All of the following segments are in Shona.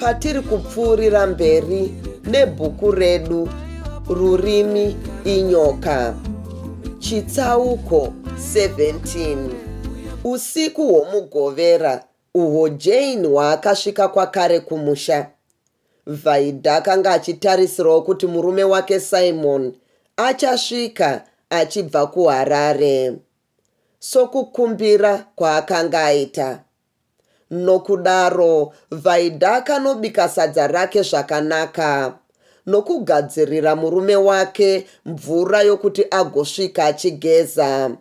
patiri kupfuurira mberi nebhuku redu rurimi inyoka chitsauko 17 usiku hwomugovera uhwo jane hwaakasvika kwakare kumusha vaida akanga achitarisirawo kuti murume wake simon achasvika achibva kuharare sokukumbira kwaakanga aita Nokudaro Vaida akanobika sadza rake zvakanaka nokugadzirira murume wake mvura yokuti agosvika achigeza.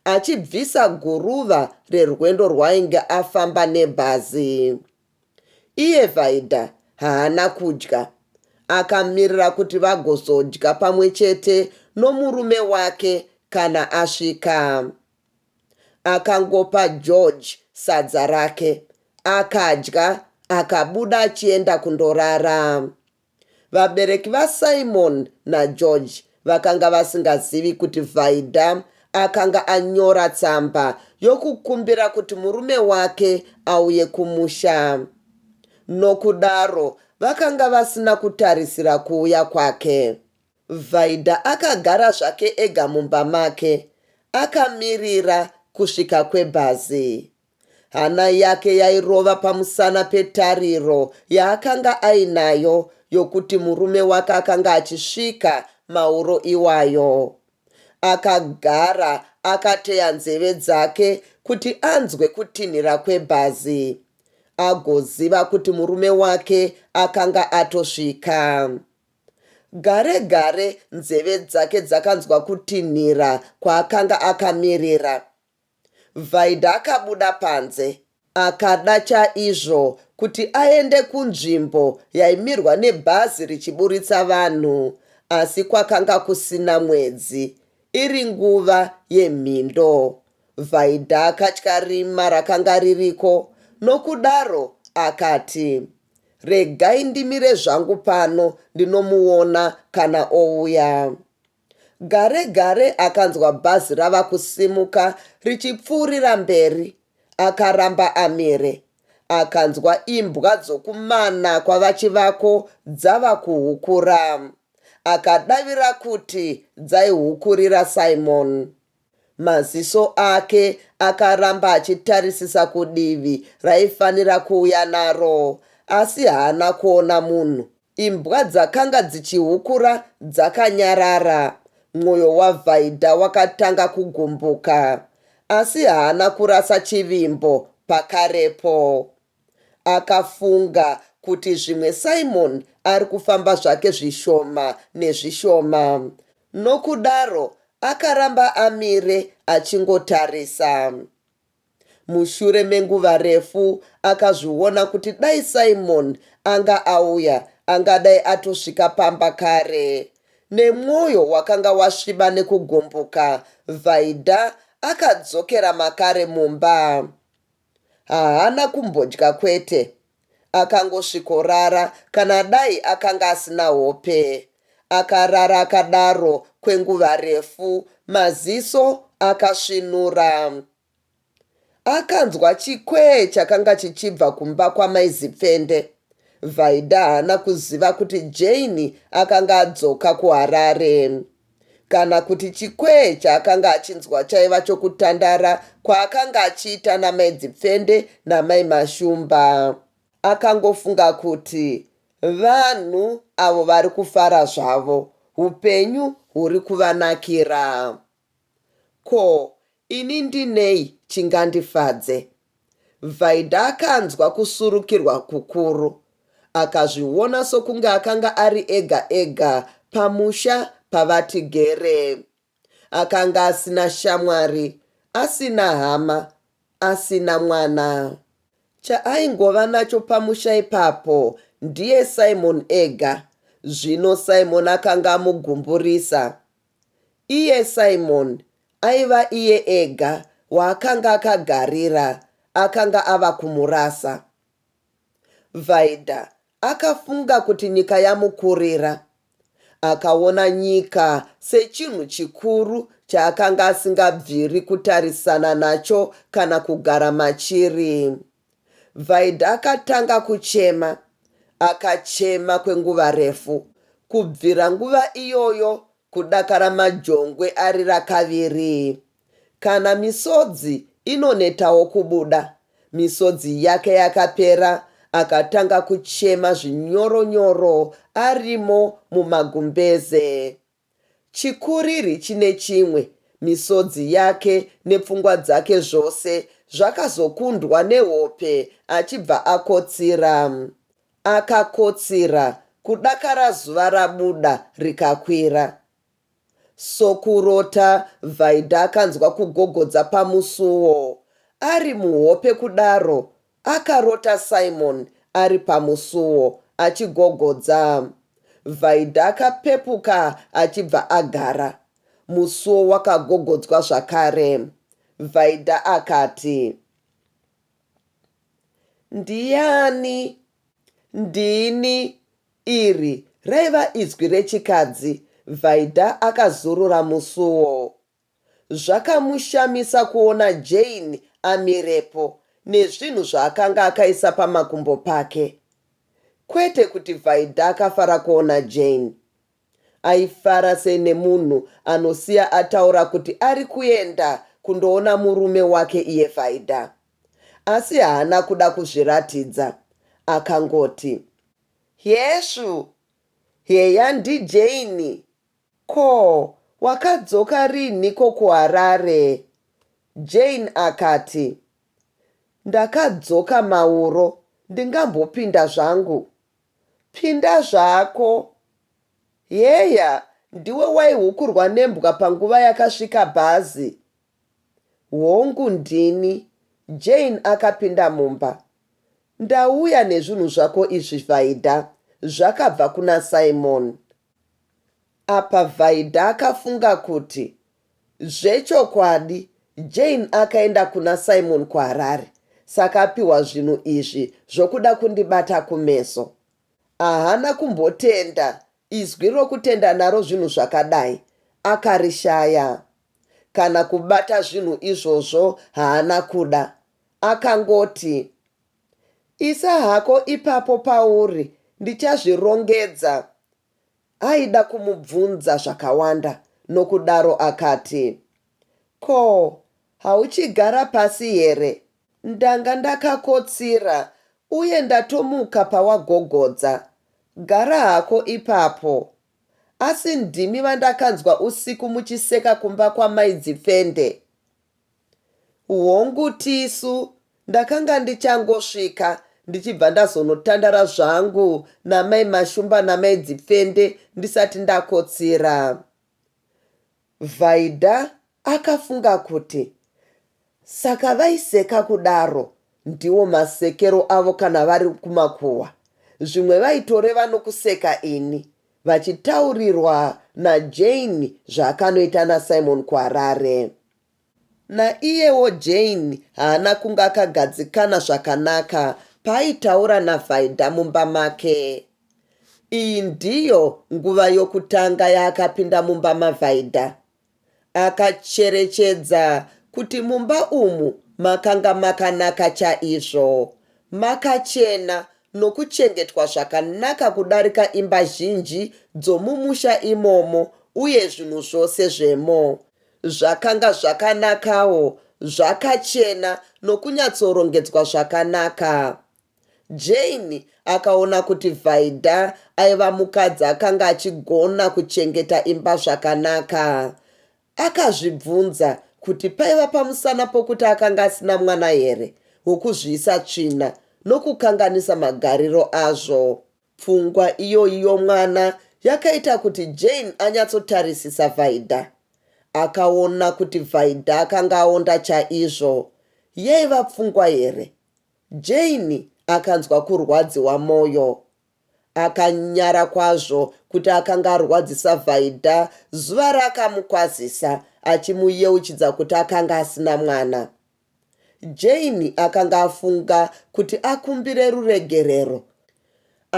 Achibvisa guruva rerwendo rwaainge afamba nebhazi. Iye Vaida haana kudya. Akamirira kuti vagozodya pamwe chete nomurume wake kana asvika. akangopa George sadza rake akadya akabuda achienda kundorara. Vabereki vaSimon naGeorge vakanga vasingazivi kuti Vaida akanga anyora tsamba yokukumbira kuti murume wake auye kumusha. Nokudaro vakanga vasina kutarisira kuuya kwake. Vaida akagara zvake ega mumba make akamirira kusvika kwebhazi. Hana yake yairova pamusana petariro yaakanga ainayo yokuti murume wake akanga achisvika mauro iwayo. Akagara akateya nzeve dzake kuti anzwe kutinhira kwebhazi agoziva kuti murume wake akanga atosvika. Gare gare nzeve dzake dzakanzwa kutinhira kwaakanga akamirira. Vaida akabuda panze. Akada chaizvo kuti aende kunzvimbo yaimirwa nebhazi richiburitsa vanhu asi kwakanga kusina mwedzi. Iri nguva yemhindo. Vaida akatya rima rakanga ririko nokudaro akati, Regai ndimire zvangu pano ndinomuona kana ouya. Gare gare akanzwa bhazi rava kusimuka richipfuurira mberi. Akaramba amire. Akanzwa imbwa dzokumana kwaVaChivako dzava kuhukura. Akadavira kuti dzaihukurira Simon. Maziso ake akaramba achitarisisa kudivi raifanira kuuya naro asi haana kuona munhu. Imbwa dzakanga dzichihukura dzakanyarara. Mwoyo waVhaidha wakatanga kugumbuka. Asi haana kurasa chivimbo pakarepo. Akafunga kuti zvimwe Simon ari kufamba zvake zvishoma nezvishoma nokudaro akaramba amire achingotarisa. Mushure menguva refu akazviona kuti dai Simon anga auya angadai atosvika pamba kare. Nemwoyo wakanga wasviba nekugumbuka, Vaida akadzokera makare mumba. Haana kumbodya kwete akangosvikorara kana dai akanga asina hope. Akarara akadaro kwenguva refu maziso akasvinura. Akanzwa chikwee chakanga chichibva kumba kwamai Zipfende. Vaida haana kuziva kuti Jane akanga adzoka kuHarare. kana kuti chikwee chaakanga achinzwa chaiva chokutandara kwaakanga achiita namai Dzipfende namai Mashumba. Akangofunga kuti vanhu avo vari kufara zvavo, upenyu huri kuvanakira. Ko Ini ndinei chingandifadze? Vaida akanzwa kusurukirwa kukuru. Akazviona sokunge akanga ari ega ega pamusha pavati gere. Akanga asina shamwari, asina hama, asina mwana. Chaaingova nacho pamusha ipapo ndiye Simon ega. Zvino Simon akanga amugumburisa. Iye Simon aiva iye ega waakanga akagarira akanga ava kumurasa. Vaida akafunga kuti nyika yamukurira. Akaona nyika sechinhu chikuru chaakanga asingabviri kutarisana nacho kana kugara machiri. Vaida akatanga kuchema. Akachema kwenguva refu. Kubvira nguva iyoyo kudakara Majongwe arira kavirii. Kana misodzi inonetawo kubuda. Misodzi yake yakapera akatanga kuchema zvinyoro nyoro arimo mumagumbeze. Chikuriri chine chimwe, misodzi yake nepfungwa dzake zvose zvakazokundwa nehope achibva akotsira. Akakotsira, kudakara zuva rabuda rikakwira. Sokurota, Vaida akanzwa kugogodza pamusuwo. Ari muhope kudaro, Akarota Simon ari pamusuwo achigogodza. Vaida akapepuka achibva agara. Musuwo wakagogodzwa zvakare. Vaida akati. Ndiani? Ndini, iri raiva izwi rechikadzi. Vaida akazurura musuwo. Zvakamushamisa kuona Jane amirepo nezvinhu zvaakanga akaisa pamakumbo pake. Kwete kuti Vaida akafara kuona Jane. Aifara sene munhu anosiya ataura kuti ari kuenda kundoona murume wake iye Vaida. Asi haana kuda kuzviratidza. Akangoti. Hesvu! Heya ndiJane! Ko wakadzoka rinhiko kuHarare? Jane akati, Ndakadzoka mauro ndingambopinda zvangu. Pinda zvako. Heya ndiwe waihukurwa nembwa panguva yakasvika bhazi? Hongu ndini. Jane akapinda mumba. Ndauya nezvinhu zvako izvi Vaida, zvakabva kuna Simon. Apa Vaida akafunga kuti zvechokwadi Jane akaenda kuna Simon kuHarare saka apiwa zvinhu izvi zvokuda kundibata kumeso. Ahana kumbotenda, izwi rokutenda naro zvinhu zvakadai akarishaya. Kana kubata zvinhu izvozvo haana kuda. Akangoti. Isa hako ipapo pauri ndichazvirongedza Aida kumubvunza zvakawanda nokudaro akati Ko hauchigara pasi here? Ndanga ndakakotsira uye ndatomuka pawagogodza Gara hako ipapo Asi ndimi vandakanzwa usiku muchiseka kumba kwamai Dzipfende? Hongu tisu ndakanga ndichangosvika ndichibva ndazonotandara zvangu namai Mashumba namai Dzipfende ndisati ndakotsira. Vaida akafunga kuti saka vaiseka kudaro ndiwo masekero avo kana vari kumakuhwa zvimwe vaitoreva nokuseka ini Vachitaurirwa naJane zvaakanoita naSimon kuHarare. Naiyewo Jane haana kunge akagadzikana zvakanaka paaitaura naVaida mumba make. Iyi ndiyo nguva yokutanga yaakapinda mumba maVaida Akacherechedza kuti mumba umu makanga makanaka chaizvo, makachena nokuchengetwa zvakanaka kudarika imba zhinji dzomumusha imomo uye zvinhu zvose zvemo zvakanga zvakanakawo, zvakachena nokunyatsorongedzwa zvakanaka. Jane akaona kuti Vaida aiva mukadzi akanga achigona kuchengeta imba zvakanaka. Akazvibvunza kuti paiva pamusana pokuti akanga asina mwana here wokuzviisa tsvina nokukanganisa magariro azvo. Pfungwa iyoyi yomwana yakaita kuti Jane anyatsotarisisa Vaida. Akaona kuti Vaida akanga aonda chaizvo. Yaiva pfungwa here? Jane akanzwa kurwadziwa moyo. Akanyara kwazvo kuti akanga arwadzisa Vaida zuva raakamukwazisa achimuyeuchidza kuti akanga asina mwana. Jane akanga afunga kuti akumbire ruregerero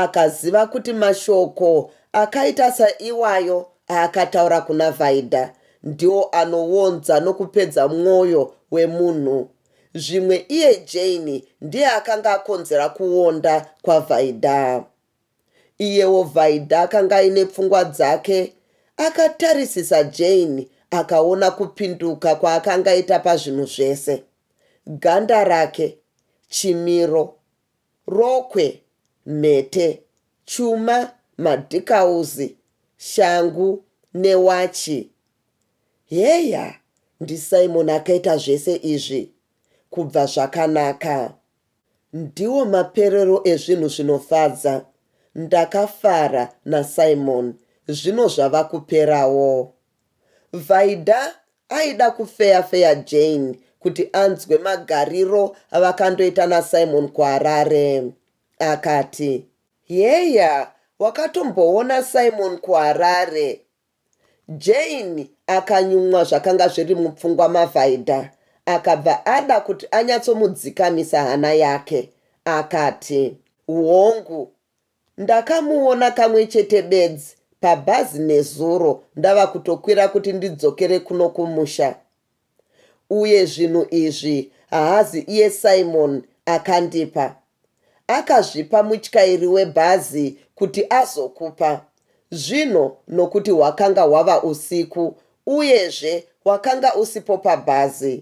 Akaziva kuti mashoko akaita saiwayo aakataura kuna Vaida ndiwo anowonza nokupedza mwoyo wemunhu. Zvimwe iye Jane ndiye akanga akonzera kuwonda kwaVaida. Iyewo Vaida akanga aine pfungwa dzake. Akatarisisa Jane akaona kupinduka kwaakanga aita pazvinhu zvese. Ganda rake, chimiro. Rokwe, mhete, chuma, madhikauzi, shangu newachi. Heya, ndiSimon akaita zvese izvi. Kubva zvakanaka. Ndiwo maperero ezvinhu zvinofadza. Ndakafara naSimon. Zvino zvava kuperawo. Vaida aida kufeya feya Jane kuti anzwe magariro avakandoita naSimon kuHarare. Akati. Heya wakatomboona Simon kuHarare? Jane akanyumwa zvakanga zviri mupfungwa maVaida akabva ada kuti anyatsomudzikamisa hana yake. Akati. Hongu Ndakamuona kamwe chete bedzi pabhazi nezuro ndava kutokwira kuti ndidzokere kuno kumusha. Uye zvinhu izvi haazi iye Simon akandipa. Akazvipa mutyairi webhazi kuti azokupa. Zvino nokuti hwakanga hwava usiku uyezve wakanga usipo pabhazi.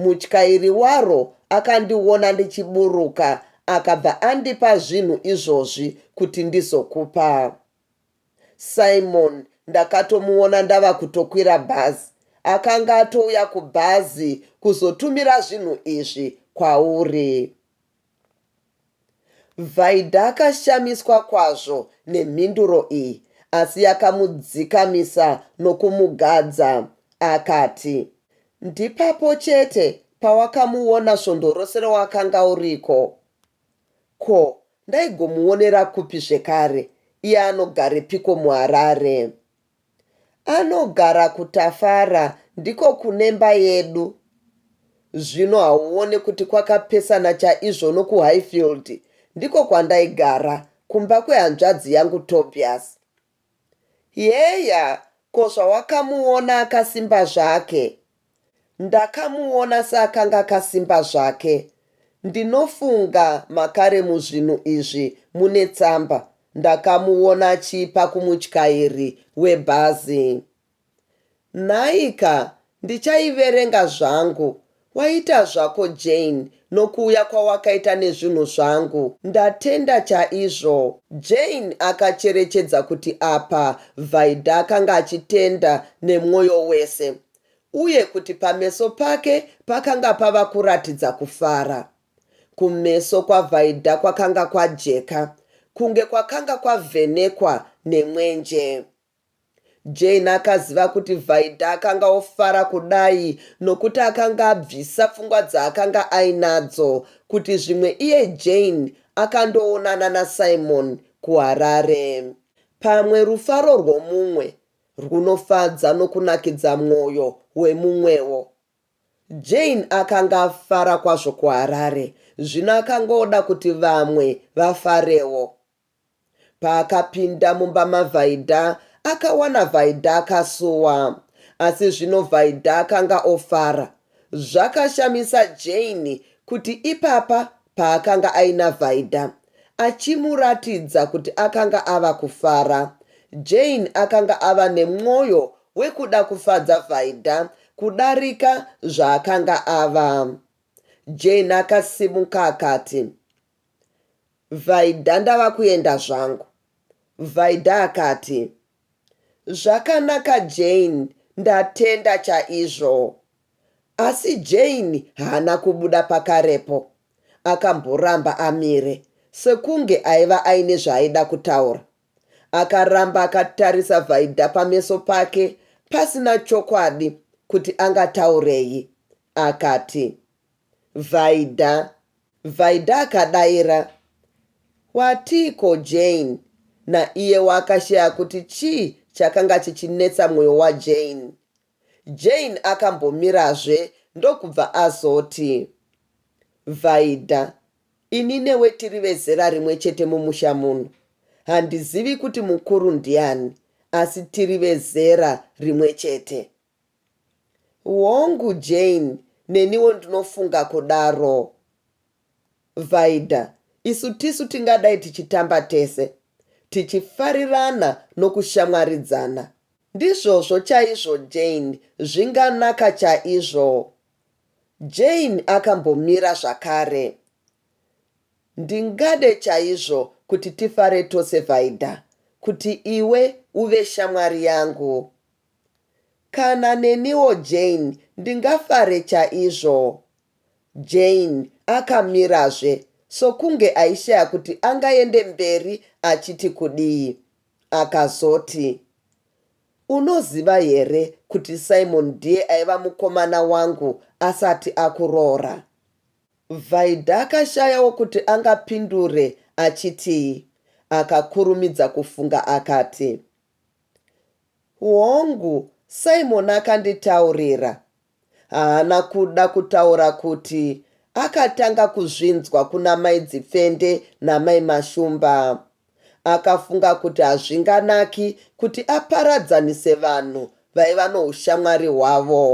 Mutyairi waro akandiona ndichiburuka akabva andipa zvinhu izvozvi kuti ndizokupa Simon ndakatomuona ndava kutokwira bhazi akanga atouya kubhazi kuzotumira zvinhu izvi kwauri. Vaida akashamiswa kwazvo nemhinduro iyi asi yakamudzikamisa nokumugadza. Akati, Ndipapo chete pawakamuona svondo rose rawakanga uriko. Ko, ndaigomuonera kupi zvekare? Iye anogarepiko muHarare? Anogara kuTafara ndiko kunemba yedu zvino hauone kuti kwakapesana chaizvo nokuHighfield ndiko kwandaigara kumba kwehanzvadzi yangu Tobias Heya ko zvawakamuona akasimba zvake Ndakamuona seakanga akasimba zvake. Ndinofunga makare muzvinhu izvi mune tsamba. Ndakamuona achiipa kumutyairi webhazi. Nhaika, ndichaiverenga zvangu. Waita zvako Jane nokuuya kwawakaita nezvinhu zvangu. Ndatenda chaizvo. Jane akacherechedza kuti apa Vaida akanga achitenda nemwoyo wese. uye kuti pameso pake pakanga pava kuratidza kufara. Kumeso kwaVaida kwakanga kwajeka, kunge kwakanga kwavhenekwa nemwenje. Jane akaziva kuti Vaida akanga ofara kudai nokuti akanga abvisa pfungwa dzaakanga ainadzo kuti zvimwe iye Jane akandoonana naSimon kuHarare. Pamwe rufaro rwomumwe rwunofadza nokunakidza mwoyo wemumwewo. Jane akanga afara kwazvo kuHarare zvino akangoda kuti vamwe vafarewo. Paakapinda mumba maVhaidha, akawana Vhaidha akasuwa. Asi zvino Vhaidha akanga ofara. Zvakashamisa Jane kuti ipapa paakanga aina Vaida achimuratidza kuti akanga ava kufara. Jane akanga ava nemwoyo wekuda kufadza Vaida kudarika zvaakanga ava. Jane akasimuka akati, Vaida ndava kuenda zvangu. Vaida akati, Zvakanaka Jane ndatenda chaizvo. Asi Jane haana kubuda pakarepo akamboramba amire sekunge aiva aine zvaaida kutaura. Akaramba akatarisa Vaida pameso pake pasina chokwadi kuti angataurei. Akati. Vaida. Vaida akadaira Watiiko Jane? Naiyewo akashaya kuti chii chakanga chichinetsa moyo waJane. Jane akambomirazve ndokubva azoti Vaida ini newe tiri vezera rimwe chete mumusha muno. Handizivi kuti mukuru ndiani asi tiri vezera rimwe chete. Hongu Jane neniwo ndinofunga kudaro Vaida isu tisu tingadai tichitamba tese tichifarirana nokushamwaridzana Ndizvozvo chaizvo Jane zvinganaka chaizvo Jane akambomira zvakare Ndingade chaizvo kuti tifare tose Vaida kuti iwe uve shamwari yangu Kana neniwo Jane ndingafare chaizvo. Jane akamirazve sokunge aishaya kuti angaende mberi achiti kudii. Akazoti, Unoziva here kuti Simon ndiye aiva mukomana wangu asati akuroora? Vaida akashayawo kuti angapindure achitii. Akakurumidza kufunga akati, Hongu, Simon akanditaurira. Haana kuda kutaura kuti akatanga kuzvinzwa kuna mai Dzipfende namai Mashumba. Akafunga kuti hazvinganaki kuti aparadzanise vanhu vaiva noushamwari hwavo.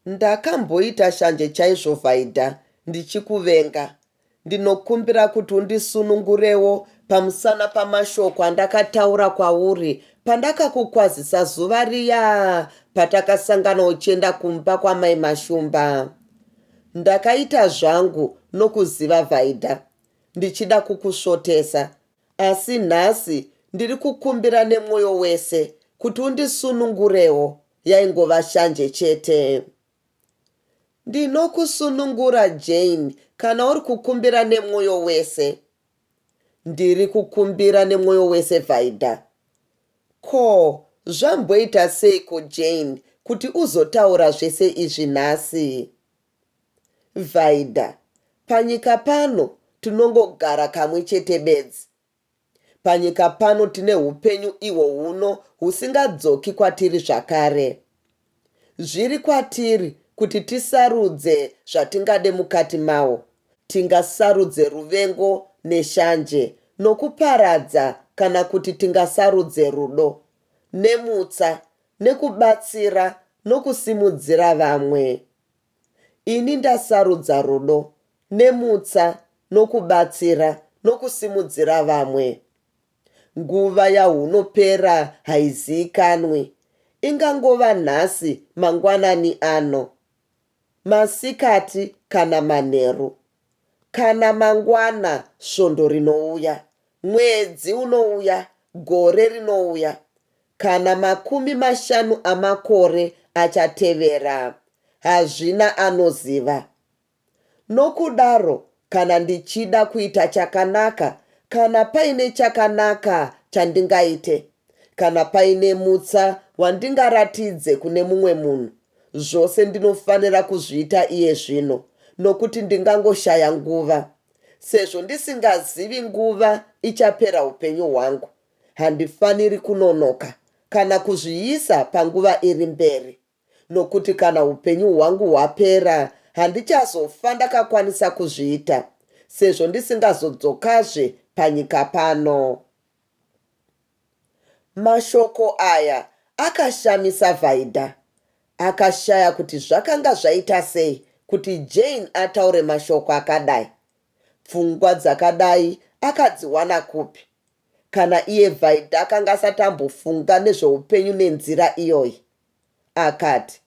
Ndakamboita shanje chaizvo Vaida ndichikuvenga. Ndinokumbira kuti undisunungurewo pamusana pamashoko andakataura kwauri pandakakukwazisa zuva riya patakasangana uchienda kumba kwamai Mashumba. Ndakaita zvangu nokuziva Vaida ndichida kukusvotesa asi nhasi ndiri kukumbira nemwoyo wese kuti undisunungurewo yaingova shanje chete. Ndinokusunungura Jane kana uri kukumbira nemwoyo wese. Ndiri kukumbira nemwoyo wese Vaida. Ko, zvamboita seiko Jane kuti uzotaura zvese izvi nhasi? Vaida, panyika pano tinongogara kamwe chete bedzi. Panyika pano tine hupenyu ihwo huno husingadzoki kwatiri zvakare. Zviri kwatiri kuti tisarudze zvatingade mukati mahwo. Tingasarudze ruvengo neshanje nokuparadza kana kuti tingasarudze rudo, nemutsa, nekubatsira nokusimudzira vamwe. Ini ndasarudza rudo, nemutsa, nokubatsira, nokusimudzira vamwe. Nguva yahunopera haiziikanwi. Ingangova nhasi, mangwanani ano, masikati, kana manheru. Kana mangwana svondo rinouya, mwedzi unouya, gore rinouya, kana makumi mashanu amakore achatevera, hazvina anoziva. Nokudaro, kana ndichida kuita chakanaka, kana paine chakanaka chandingaite, kana paine mutsa wandingaratidze kune mumwe munhu, zvose ndinofanira kuzviita iye zvino, nokuti ndingangoshaya nguva. Sezvo ndisingazivi nguva ichapera upenyu hwangu, handifaniri kunonoka kana kuzviisa panguva iri mberi, nokuti kana upenyu hwangu hwapera, handichazofa ndakakwanisa kuzviita, sezvo ndisingazodzokazve panyika pano. Mashoko aya akashamisa Vaida. Akashaya kuti zvakanga zvaita sei kuti Jane ataure mashoko akadai. Pfungwa dzakadai akadziwana kupi? Kana iye Vaida akanga asati ambofunga nezveupenyu nenzira iyoyi. Akati,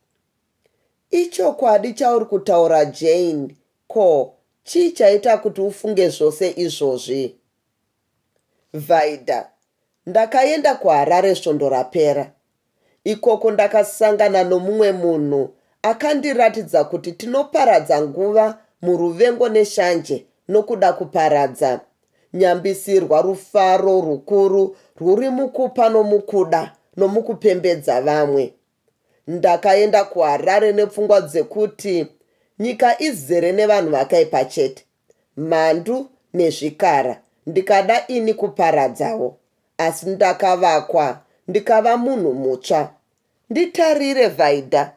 Ichokwadi chauri kutaura Jane, ko, chii chaita kuti ufunge zvose izvozvi? Vaida, Ndakaenda kuHarare svondo rapera. Ikoko ndakasangana nomumwe munhu akandiratidza kuti tinoparadza nguva muruvengo neshanje nokuda kuparadza. Nyambisirwa rufaro rukuru rwuri mukupa nomukuda nomukupembedza vamwe. Ndakaenda kuHarare nepfungwa dzekuti nyika izere nevanhu vakaipa chete. mhandu nezvikara ndikada ini kuparadzawo asi ndakavakwa ndikava munhu mutsva. Nditarire Vaida,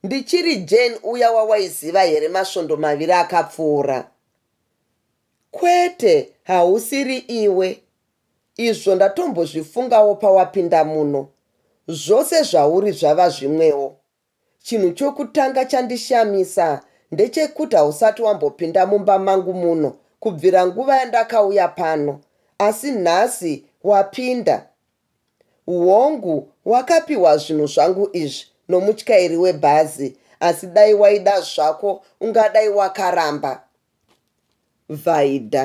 ndichiri Jane uya wawaiziva here masvondo maviri akapfuura? Kwete hausiri iwe, izvo ndatombozvifungawo pawapinda muno. Zvose zvauri zvava zvimwewo. Chinhu chokutanga chandishamisa ndechekuti hausati wambopinda mumba mangu muno kubvira nguva yandakauya pano, asi nhasi wapinda. Hongu, wakapiwa zvinhu zvangu izvi nomutyairi webhazi, asi dai waida zvako ungadai wakaramba. Vaida.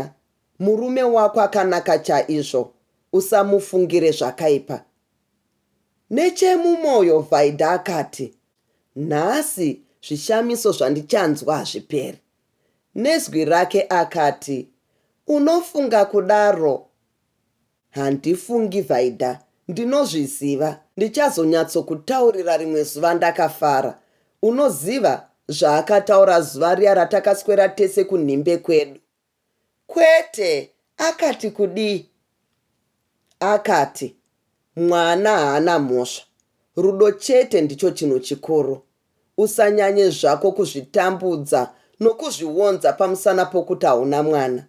Murume wako akanaka chaizvo, usamufungire zvakaipa. Nechemumoyo Vaida akati, Nhasi zvishamiso zvandichanzwa hazviperi. Nezwi rake akati, Unofunga kudaro? Handifungi Vaida, ndinozviziva. Ndichazonyatsokutaurira rimwe zuva ndakafara. Unoziva, zvaakataura zuva riya ratakaswera tese kunhimbe kwedu. Kwete akati kudii akati mwana haana mhosva rudo chete ndicho chinhu chikuru usanyanye zvako kuzvitambudza nokuzvionza pamusana pokuti hauna mwana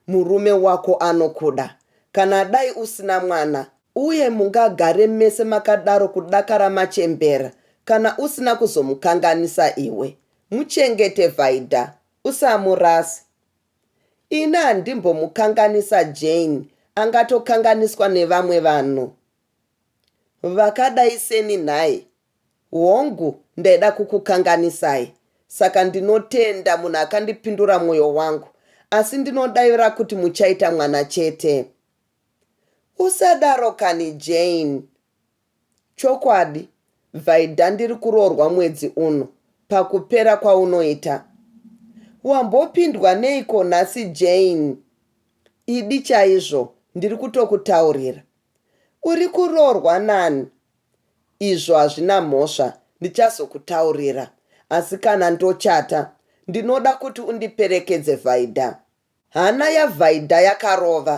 murume wako anokuda kana dai usina mwana uye mungagare mese makadaro kudakara machembera kana usina kuzomukanganisa iwe muchengete Vaida Usamurase. Ini handimbomukanganisa Jane angatokanganiswa nevamwe vanhu vakadai seni nhai? Hongu ndaida kukukanganisai saka ndinotenda munhu akandipindura moyo wangu asi ndinodavira kuti muchaita mwana chete. Usadaro kani Jane. Chokwadi Vaida ndiri kuroorwa mwedzi uno pakupera kwaunoita Wambopindwa neiko nhasi Jane Idi chaizvo ndiri kutokutaurira Uri kuroorwa nani Izvo hazvina mhosva ndichazokutaurira asi kana ndochata ndinoda kuti undiperekedze Vaida Hana yaVaida yakarova.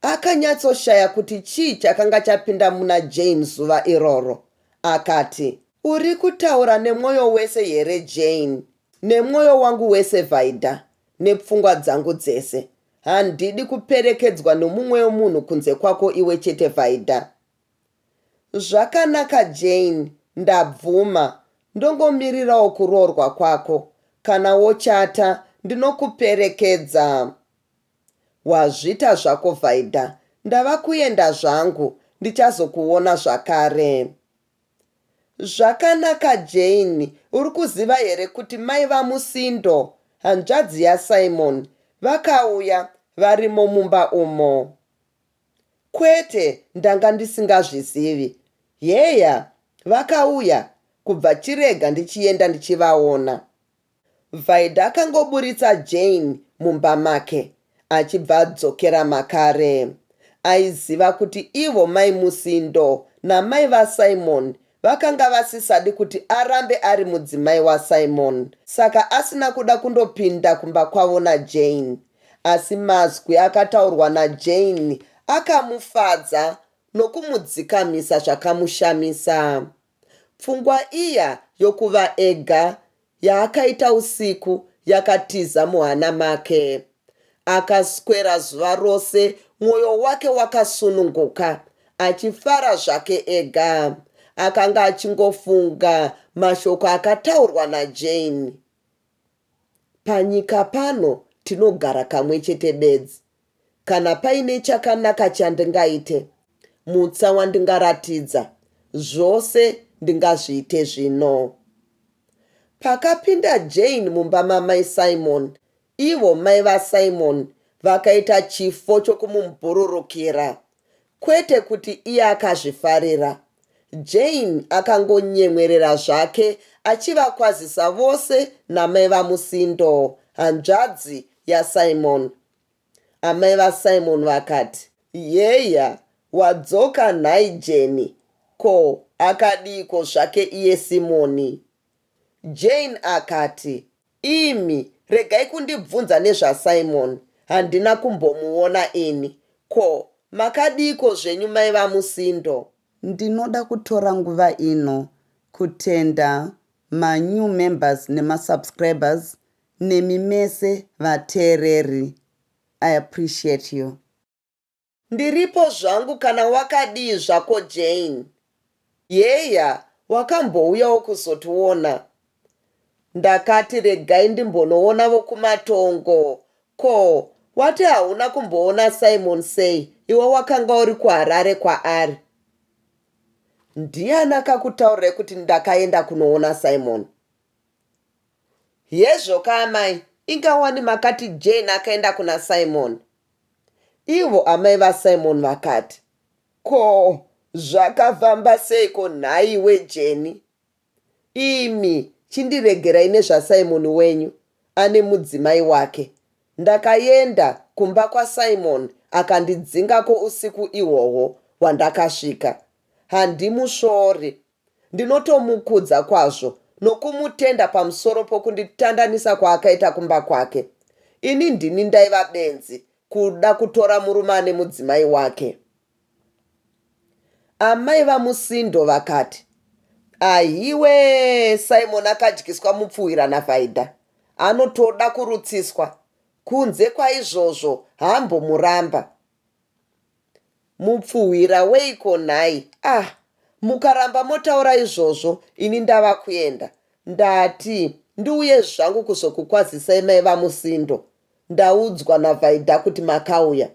Akanyatsoshaya kuti chii chakanga chapinda muna Jane zuva iroro. Akati, Uri kutaura nemwoyo wese here Jane? Nemwoyo wangu wese Vaida, nepfungwa dzangu dzese. Handidi kuperekedzwa nomumwewo munhu kunze kwako iwe chete Vaida. Zvakanaka Jane ndabvuma ndongomirirawo kuroorwa kwako kana wochata ndinokuperekedza Wazvita zvako Vaida ndava kuenda zvangu ndichazokuona zvakare Zvakanaka Jane uri kuziva here kuti mai vaMusindo hanzvadzi yaSimon vakauya varimo mumba umo Kwete, ndanga ndisingazvizivi. Heya, vakauya, kubva chirega ndichienda ndichivaona. Vhaidha akangoburitsa Jane mumba make achibva adzokera makare. Aiziva kuti ivo mai Musindo namai vaSimon Vakanga vasisadi kuti arambe ari mudzimai waSimon saka asina kuda kundopinda kumba kwavo naJane. Asi mazwi akataurwa naJane akamufadza nokumudzikamisa zvakamushamisa. Pfungwa iya yokuva ega yaakaita usiku yakatiza muhana make. Akaswera zuva rose mwoyo wake wakasununguka, achifara zvake ega. Akanga achingofunga mashoko akataurwa naJane, Panyika pano tinogara kamwe chete bedzi, Kana paine chakanaka chandingaite, mutsa wandingaratidza, zvose ndingazviite zvino. Pakapinda Jane mumba maMai Simon, ivo mai vaSimon vakaita chifo chokumumbururukira. Kwete kuti iye akazvifarira. Jane akangonyemwerera zvake achivakwazisa vose namai vaMusindo, hanzvadzi yaSimon. Amai vaSimon vakati, Heya, wadzoka nhai Jane? Ko, akadiiko zvake iye Simoni? Jane akati, Imi regai kundibvunza nezvaSimon, handina kumbomuona ini. Ko, makadiiko zvenyu mai vaMusindo? Ndinoda kutora nguva ino kutenda manew members nemasubscribers nemi mese vateereri I appreciate you. Ndiripo zvangu kana wakadii zvako Jane. Heya wakambouyawo kuzotiona. Ndakati regai ndimbonoona vokumatongo ko wati hauna kumboona Simon sei iwe wakanga uri kuHarare kwaari. Ndiani akakutaurirai kuti ndakaenda kunoona Simon. Hezvo ka amai inga wani makati Jane akaenda kuna Simon. Ivo amai va Simon vakati, Ko zvakafamba seiko nhaiwe Jane? Imi chindiregerai nezva Simon wenyu ane mudzimai wake. Ndakaenda kumba kwa Simon akandidzingako usiku ihwohwo hwandakasvika. Handimusvori Ndinotomukudza kwazvo nokumutenda pamusoro pokunditandanisa kwaakaita kumba kwake. Ini ndini ndaiva benzi kuda kutora murume ane mudzimai wake. Amai vaMusindo vakati, Ahiwee, Simon akadyiswa mupfuhwira naVhaidha. Anotoda kurutsiswa. Kunze kwaizvozvo, haambomuramba. Mupfuhwira weiko nhai ah mukaramba motaura izvozvo ini ndava kuenda ndati ndiuye zvangu kuzokukwazisai mai vaMusindo ndaudzwa naVaida kuti makauya.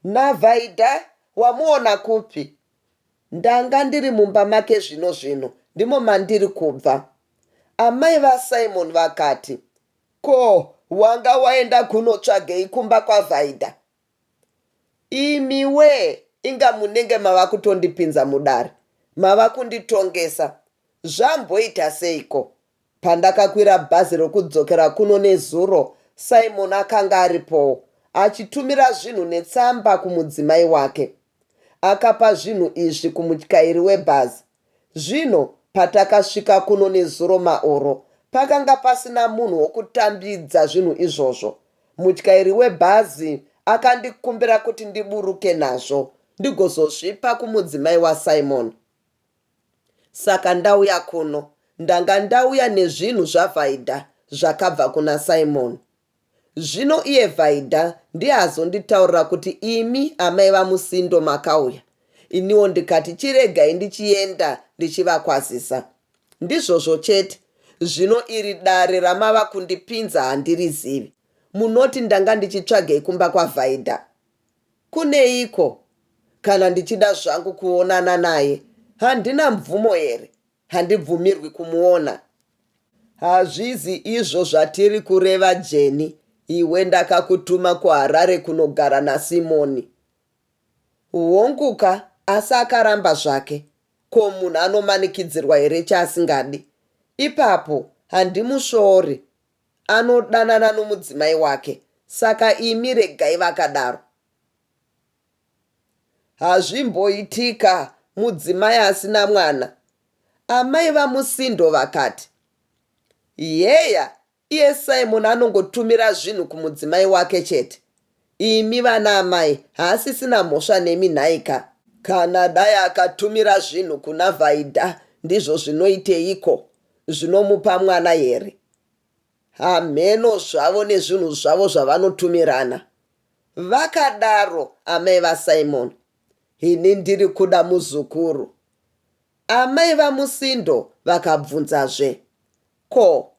NaVaida wamuona kupi? Ndanga ndiri mumba make zvino zvino ndimo mandiri kubva. Amai vaSimon vakati. Ko wanga waenda kunotsvagei kumba kwaVaida? Imiwee inga munenge mava kutondipinza mudare mava kunditongesa zvamboita seiko? Pandakakwira bhazi rokudzokera kuno nezuro Simon akanga aripowo achitumira zvinhu netsamba kumudzimai wake. Akapa zvinhu izvi kumutyairi webhazi Zvino patakasvika kuno nezuro maoro, pakanga pasina munhu wokutambidza zvinhu izvozvo. Mutyairi webhazi akandikumbira kuti ndiburuke nazvo ndigozozvipa kumudzimai waSimon. Saka ndauya kuno. Ndanga ndauya nezvinhu zvaVaida zvakabva kuna Simon. Zvino iye Vaida ndiye azonditaurira kuti imi amai vaMusindo makauya, iniwo ndikati chiregai ndichienda ndichivakwazisa. Ndizvozvo chete. Zvino iri dare ramava kundipinza handirizivi. Munoti ndanga ndichitsvagei kumba kwaVaida? Kuneiko? Kana ndichida zvangu kuonana naye, handina mvumo here? Handibvumirwi kumuona. Hazvizi izvo zvatiri kureva Jenny iwe ndakakutuma kuHarare kunogara naSimon. Honguka asi akaramba zvake ko munhu anomanikidzirwa here chaasingadi. Ipapo handimusvori anodanana nomudzimai wake saka imi regai vakadaro. Hazvimboitika mudzimai asina mwana, amai vaMusindo vakati. Heya, iye Simon anongotumira zvinhu kumudzimai wake chete. Imi vana amai haasisina mhosva nemi nhai ka? Kana dai akatumira zvinhu kuna Vaida ndizvo zvinoiteiko? Zvinomupa mwana here? Hamheno zvavo nezvinhu zvavo zvavanotumirana. Vakadaro amai vaSimon Ini ndiri kuda muzukuru Amai vaMusindo vakabvunzazve Ko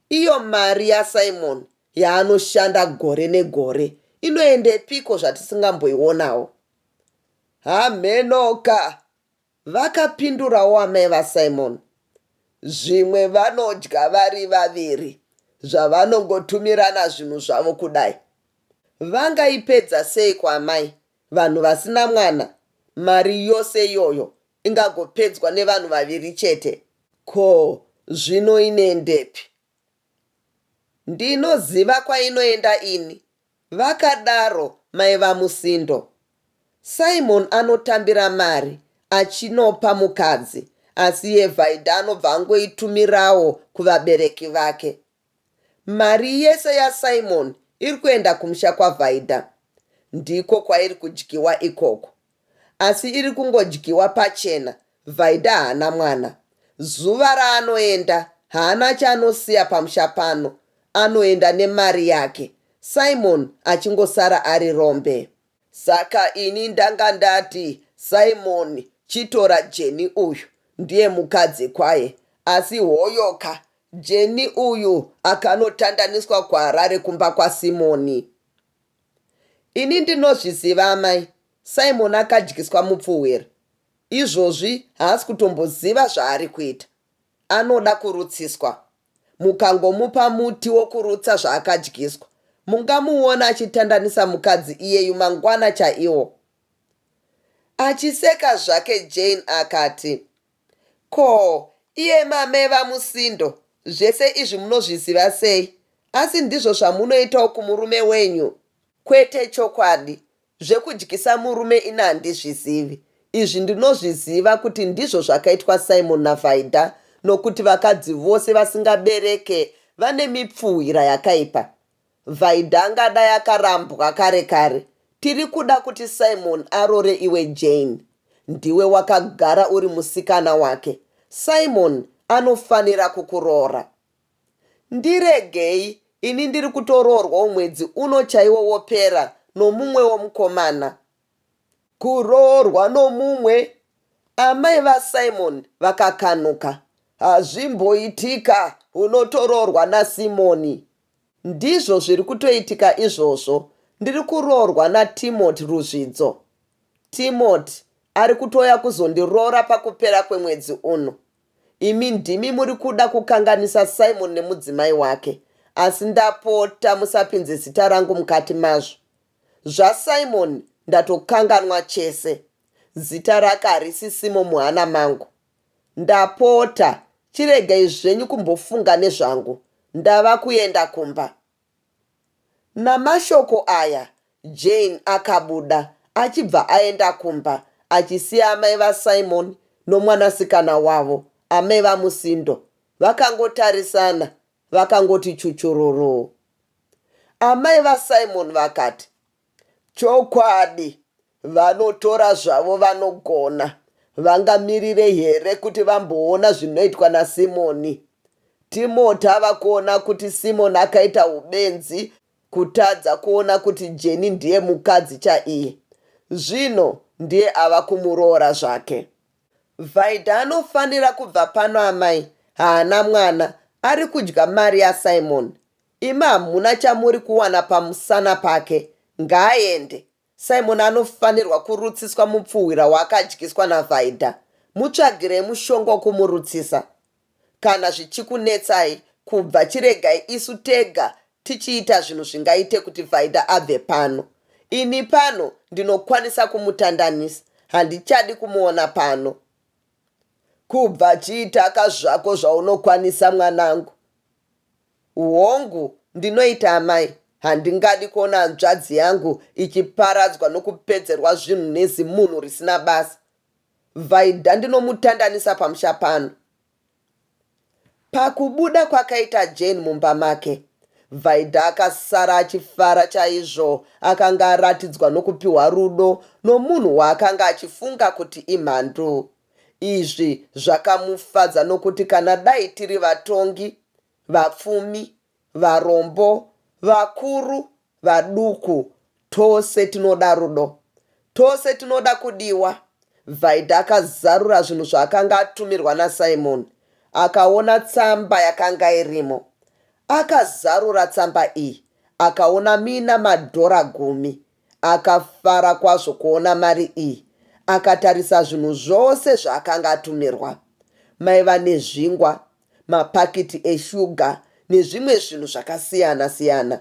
iyo mari yaSimon yaanoshanda gore negore inoendepiko zvatisingamboionawo? Hamhenoka Vakapindurawo amai vaSimon, Zvimwe vanodya vari vaviri zvavanongotumirana zvinhu zvavo kudai. Vangaipedza seiko amai, vanhu vasina mwana, mari yose iyoyo ingagopedzwa nevanhu vaviri chete? Ko zvino inoendepi? Ndinoziva kwainoenda ini, Vakadaro mai vaMusindo. Simon anotambira mari achinopa mukadzi asi yeVaida anobva angoitumirawo kuvabereki vake. Mari yese yaSimon iri kuenda kumusha kwaVaida. Ndiko kwairi kudyiwa ikoko. asi iri kungodyiwa pachena Vaida haana mwana zuva raanoenda haana chaanosiya pamusha pano anoenda nemari yake Simon achingosara ari rombe. Saka ini ndanga ndati Simon chitora Jenny uyu ndiye mukadzi kwaye asi hoyoka Jenny uyu akanotandaniswa kuHarare kumba kwaSimon. Ini ndinozviziva amai Simon akadyiswa mupfuhwira izvozvi haasi kutomboziva zvaari kuita anoda kurutsiswa mukangomupa muti wokurutsa zvaakadyiswa mungamuona achitandanisa mukadzi iyeyu mangwana chaiwo Achiseka zvake Jane akati. Ko iye mame vaMusindo zvese izvi munozviziva sei asi ndizvo zvamunoitawo kumurume wenyu? Kwete chokwadi zvekudyisa murume ini handizvizivi izvi ndinozviziva kuti ndizvo zvakaitwa Simon naVaida nokuti vakadzi vose vasingabereke vane mipfuhwira yakaipa. Vaida angadai akarambwa kare kare. Tiri kuda kuti Simon arore iwe Jane. Ndiwe wakagara uri musikana wake. Simon anofanira kukuroora. Ndiregei, ini ndiri kutoroorwawo mwedzi uno chaiwo wopera nomumwewo mukomana. Kuroorwa nomumwe? Amai vaSimon vakakanuka. Hazvimboitika, unotoroorwa naSimon. Ndizvo zviri kutoitika izvozvo. Ndiri kuroorwa naTimothy Ruzvidzo. Timothy ari kutouya kuzondiroora pakupera kwemwedzi uno. Imi ndimi muri kuda kukanganisa Simon nemudzimai wake asi ndapota musapinze zita rangu mukati mazvo. ZvaSimon ndatokanganwa chese. Zita rake harisi Simo muhana mangu. Ndapota chiregai zvenyu kumbofunga nezvangu ndava kuenda kumba. Namashoko aya Jane akabuda achibva aenda kumba achisiya amai vaSimon nomwanasikana wavo, amai vaMusindo, vakangotarisana vakangoti chuchururuu. Amai vaSimon vakati, Chokwadi Vanotora zvavo vanogona. Vangamirire here kuti vamboona zvinoitwa naSimoni? Timoti ava kuona kuti Simoni akaita ubenzi kutadza kuona kuti Jeni ndiye mukadzi chaiye. Zvino ndiye ava kumuroora zvake. Vaida anofanira kubva pano amai, haana mwana, ari kudya mari yaSimoni. Imi hamuna chamuri kuwana pamusana pake. Ngaaende. Simon anofanirwa kurutsiswa mupfuhwira waakadyiswa naVaida. Mutsvagirei mushonga wokumurutsisa. Kana zvichikunetsai kubva chiregai isu tega tichiita zvinhu zvingaite kuti Vaida abve pano. Ini pano ndinokwanisa kumutandanisa. Handichadi kumuona pano. Kubva chiitaka zvako zvaunokwanisa mwanangu. Hongu, ndinoita amai. Handingadi kuona hanzvadzi yangu ichiparadzwa nokupedzerwa zvinhu nezimunhu risina basa. Vaida ndinomutandanisa pamusha pano. Pakubuda kwakaita Jane mumba make, Vaida akasara achifara chaizvo. Akanga aratidzwa nokupiwa rudo nomunhu waakanga achifunga kuti imhandu. Izvi zvakamufadza nokuti kana dai tiri vatongi, vapfumi, varombo, vakuru, vaduku, tose tinoda rudo. Tose tinoda kudiwa. Vaida akazarura zvinhu zvaakanga atumirwa naSimon. Akaona tsamba yakanga irimo. Akazarura tsamba iyi akaona muina madhora gumi. Akafara kwazvo kuona mari iyi. Akatarisa zvinhu zvose zvaakanga atumirwa. Maiva nezvingwa, mapakiti eshuga nezvimwe zvinhu zvakasiyana-siyana.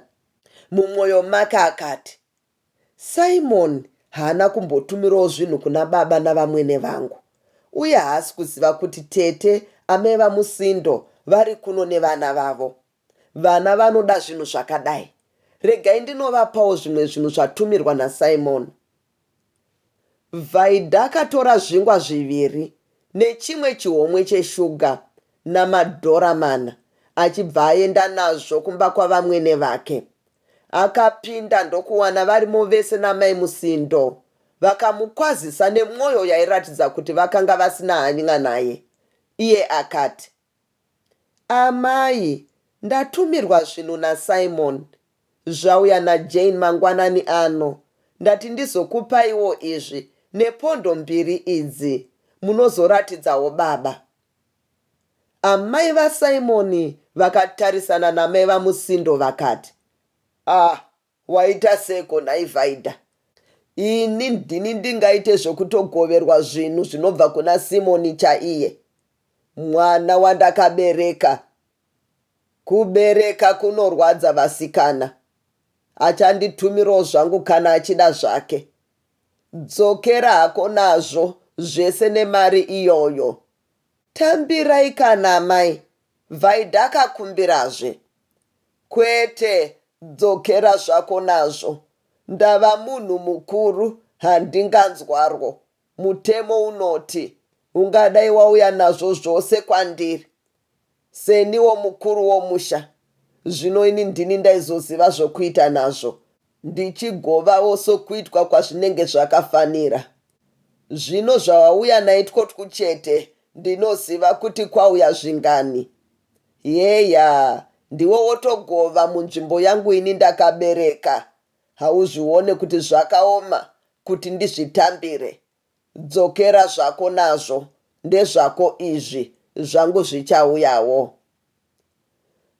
Mumwoyo make akati, Simon haana kumbotumirawo zvinhu kuna baba navamwene vangu, uye haasi kuziva kuti tete amai vaMusindo vari kuno nevana vavo. Vana vanoda zvinhu zvakadai. Regai ndinovapawo zvimwe zvinhu zvatumirwa naSimon. Vaida akatora zvingwa zviviri nechimwe chihomwe cheshuga namadhora mana achibva aenda nazvo kumba kwavamwene vake. Akapinda ndokuwana varimo vese naMai Musindo. Vakamukwazisa nemwoyo yairatidza kuti vakanga vasina hany'a naye. Iye akati. Amai, Ndatumirwa zvinhu naSimon. Zvauya naJane mangwanani ano. Ndati ndizokupaiwo izvi nepondo mbiri idzi munozoratidzawo baba. Amai vaSimon vakatarisana namai vaMusindo vakati, Ah Waita seko nhai Vaida? Ini ndini ndingaite zvekutogoverwa zvinhu zvinobva kuna Simon chaiye. Mwana wandakabereka. Kubereka kunorwadza vasikana. Achanditumirawo zvangu kana achida zvake. Dzokera hako nazvo zvese nemari iyoyo. Tambirai kana amai Vaida kakumbirazve kwete dzokera zvako nazvo ndava munhu mukuru handinganzwarwo mutemo unoti ungadai wauya nazvo zvose kwandiri seniwo mukuru womusha zvino ini ndini ndaizoziva zvokuita nazvo ndichigovawo sokuitwa kwazvinenge zvakafanira Zvino zvawauya naitwo twu chete ndinoziva kuti kwauya zvingani. Heya, ndiwe wotogova munzvimbo yangu ini ndakabereka. Hauzvione kuti zvakaoma kuti ndizvitambire? Dzokera zvako nazvo, ndezvako izvi, zvangu zvichauyawo.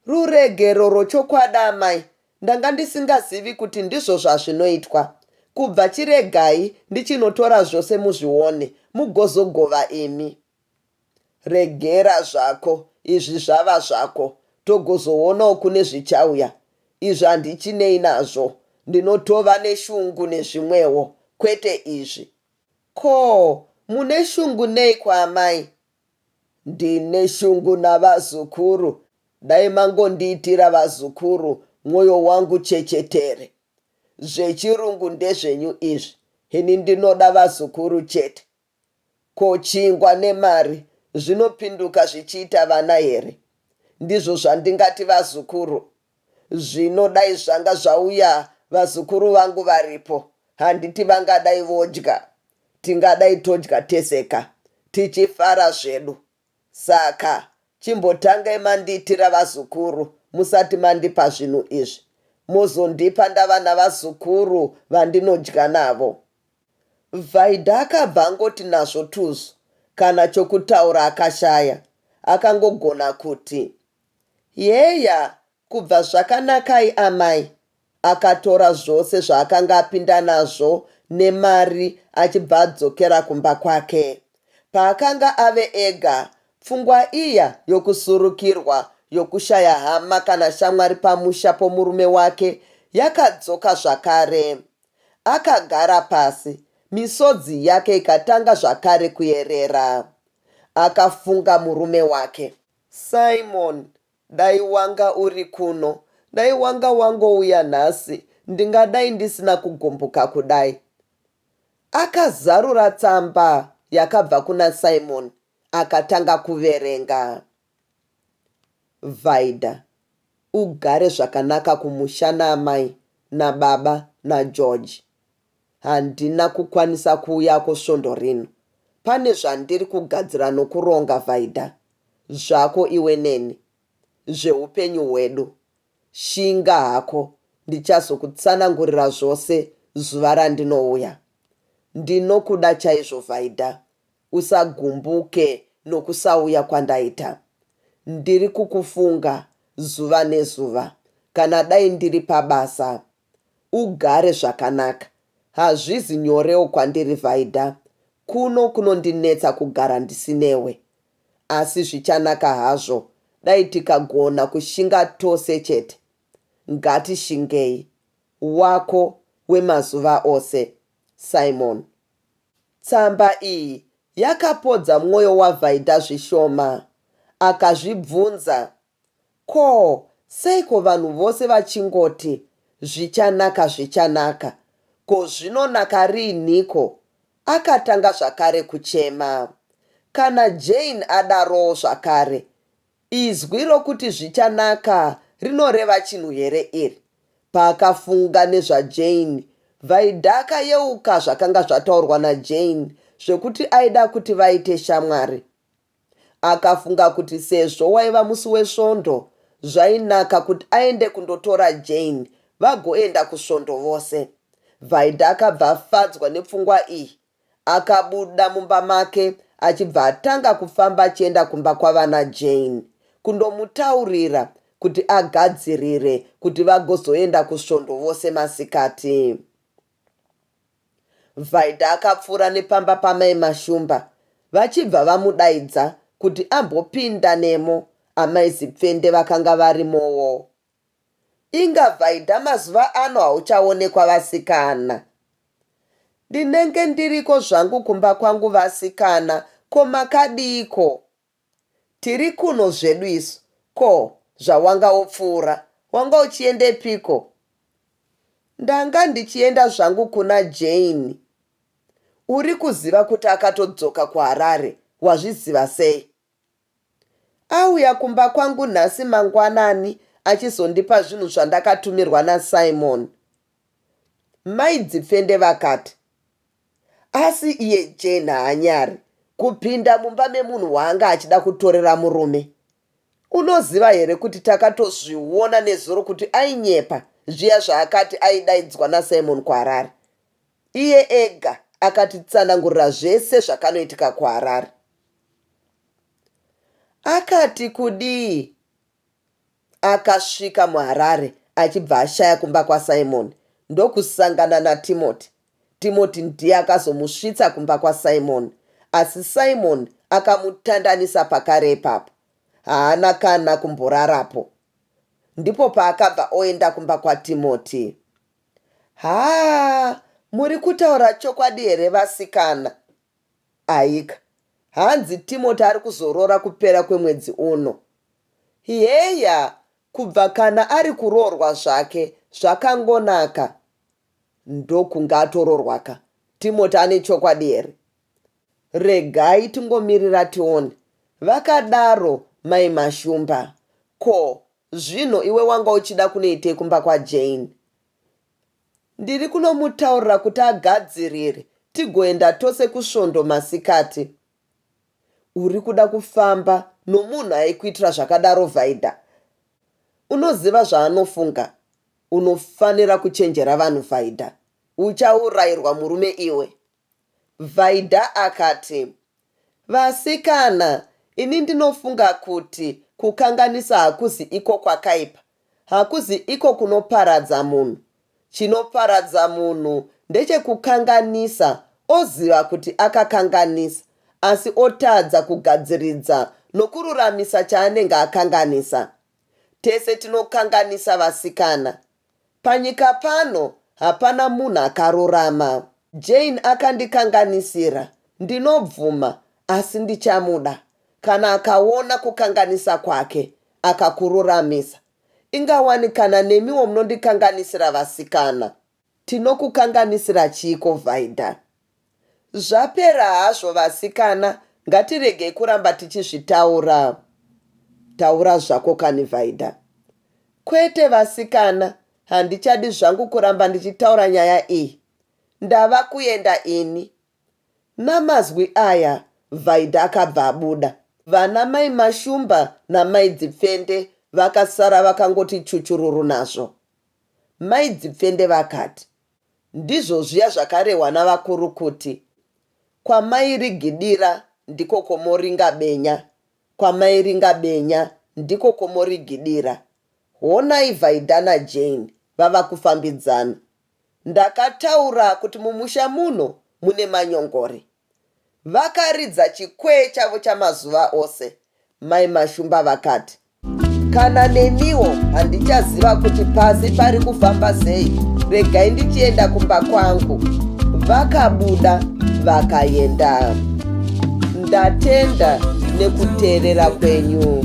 Ruregero rwechokwadi amai ndanga ndisingazivi kuti ndizvo zvazvinoitwa. Kubva chiregai ndichinotora zvose muzvione mugozogova imi. Regera zvako izvi zvava zvako togozoonawo kune zvichauya. Izvi handichinei nazvo ndinotova neshungu nezvimwewo kwete izvi. Ko mune shungu neiko amai Ndine shungu navazukuru dai mangondiitira vazukuru mwoyo wangu chechetere. Zvechirungu ndezvenyu izvi ini ndinoda vazukuru chete. Ko chingwa nemari zvinopinduka zvichiita vana here? Ndizvo zvandingati vazukuru Zvino dai zvanga zvauya vazukuru vangu varipo handiti vangadai vodya? Tingadai todya tese ka, tichifara zvedu. Saka chimbotangai mandiitira vazukuru musati mandipa zvinhu izvi. Mozondipa ndava navazukuru vandinodya navo. Vaida akabva angoti nazvo tuzu kana chokutaura akashaya. Akangogona kuti, Heya kubva zvakanakai amai akatora zvose zvaakanga apinda nazvo nemari achibva adzokera kumba kwake. Paakanga ave ega pfungwa iya yokusurukirwa yokushaya hama kana shamwari pamusha pomurume wake yakadzoka zvakare. Akagara pasi misodzi yake ikatanga zvakare kuyerera. Akafunga murume wake. Simon, Dai wanga uri kuno, dai wanga wangouya nhasi, ndingadai ndisina kugumbuka kudai. Akazarura tsamba yakabva kuna Simon akatanga kuverenga. Vaida, Ugare zvakanaka kumusha naamai nababa naGeorge. Handina kukwanisa kuuyako svondo rino. Pane zvandiri kugadzira nokuronga, Vaida. Zvako iwe neni. Zveupenyu hwedu. Shinga hako, ndichazokutsanangurira zvose zuva randinouya. Ndinokuda chaizvo, Vaida. Usagumbuke nokusauya kwandaita. Ndiri kukufunga zuva nezuva, kana dai ndiri pabasa. ugare zvakanaka hazvizi nyorewo kwandiri Vaida kuno kunondinetsa kugara ndisinewe asi zvichanaka hazvo dai tikagona kushinga tose chete ngatishingei Wako wemazuva ose Simon Tsamba iyi yakapodza mwoyo waVaida zvishoma akazvibvunza Ko seiko vanhu vose vachingoti zvichanaka zvichanaka ko zvinonaka riinhiko akatanga zvakare kuchema kana Jane adarowo zvakare izwi rokuti zvichanaka rinoreva chinhu here iri paakafunga nezva Jane Vaida akayeuka zvakanga zvataurwa na Jane zvekuti aida kuti vaite shamwari Akafunga kuti sezvo waiva musi weSvondo zvainaka kuti aende kundotora Jane vagoenda kusvondo vose. Vaida akabva afadzwa nepfungwa iyi. Akabuda mumba make achibva atanga kufamba achienda kumba kwavana Jane kundomutaurira kuti agadzirire kuti vagozoenda kusvondo vose masikati. Vaida akapfuura nepamba pamai Mashumba vachibva vamudaidza kuti ambopinda nemo amai Zipfende vakanga varimowo. Inga Vaida mazuva ano hauchaonekwa vasikana. Ndinenge ndiriko zvangu kumba kwangu vasikana ko makadiiko Tiri kuno zvedu isu. Ko, zvawanga wopfuura, wanga uchiendepiko? Ndanga ndichienda zvangu kuna Jane. Uri kuziva kuti akatodzoka kuHarare, wazviziva sei? Auya kumba kwangu nhasi mangwanani achizondipa zvinhu zvandakatumirwa naSimon. Mai Dzipfende vakati. Asi iye Jane haanyari kupinda mumba memunhu waanga achida kutorera murume. Unoziva here kuti takatozviona nezuro kuti ainyepa zviya zvaakati aidaidzwa naSimon kuHarare. Iye ega akatitsanangurira zvese zvakanoitika kuHarare. Akati kudii? Akasvika muHarare achibva ashaya kumba kwaSimon ndokusangana naTimothy. Timothy ndiye akazomusvitsa kumba kwaSimon asi Simon akamutandanisa pakare ipapo. Haana kana kumborarapo. Ndipo paakabva oenda kumba kwaTimothy. Haa muri kutaura chokwadi here vasikana? Aika. Hanzi Timoti ari kuzoroora kupera kwemwedzi uno. Heya kubva kana ari kuroorwa zvake zvakangonaka ndokunge atoroorwa ka. Timoti ane chokwadi here? Regai tingomirira tione, vakadaro Mai Mashumba. Ko zvino iwe wanga uchida kunoitei kumba kwaJane? Ndiri kunomutaurira kuti agadzirire tigoenda tose kusvondo masikati. Uri kuda kufamba nomunhu aikuitira zvakadaro Vaida? Unoziva zvaanofunga? Unofanira kuchenjera vanhu Vaida. Uchaurayirwa murume iwe. Vaida akati, Vasikana, ini ndinofunga kuti kukanganisa hakuzi iko kwakaipa. Hakuzi iko kunoparadza munhu. Chinoparadza munhu ndechekukanganisa oziva kuti akakanganisa asi otadza kugadziridza nokururamisa chaanenge akanganisa. Tese tinokanganisa vasikana. Panyika pano hapana munhu akarurama. Jane akandikanganisira, ndinobvuma, asi ndichamuda kana akaona kukanganisa kwake akakururamisa. Ingawani kana nemiwo munondikanganisira vasikana. Tinokukanganisira chiiko Vaida? Zvapera hazvo vasikana ngatiregei kuramba tichizvitaura taura zvako kani Vaida. Kwete vasikana handichadi zvangu kuramba ndichitaura nyaya iyi ndava kuenda ini. Namazwi aya Vaida akabva abuda. Vana mai Mashumba namai Dzipfende vakasara vakangoti chuchururu nazvo. Mai Dzipfende vakati. Ndizvo zviya zvakarehwa navakuru kuti, Kwamairigidira ndiko kwomoringa benya, kwamairinga benya ndiko kwomorigidira. Honai Vaida naJane vava kufambidzana. Ndakataura kuti mumusha muno mune manyongori. Vakaridza chikwee chavo chamazuva ose, Mai Mashumba vakati, Kana neniwo handichaziva kuti pasi pari kufamba sei, regai ndichienda kumba kwangu. Vakabuda vakaenda. Ndatenda nekuteerera kwenyu.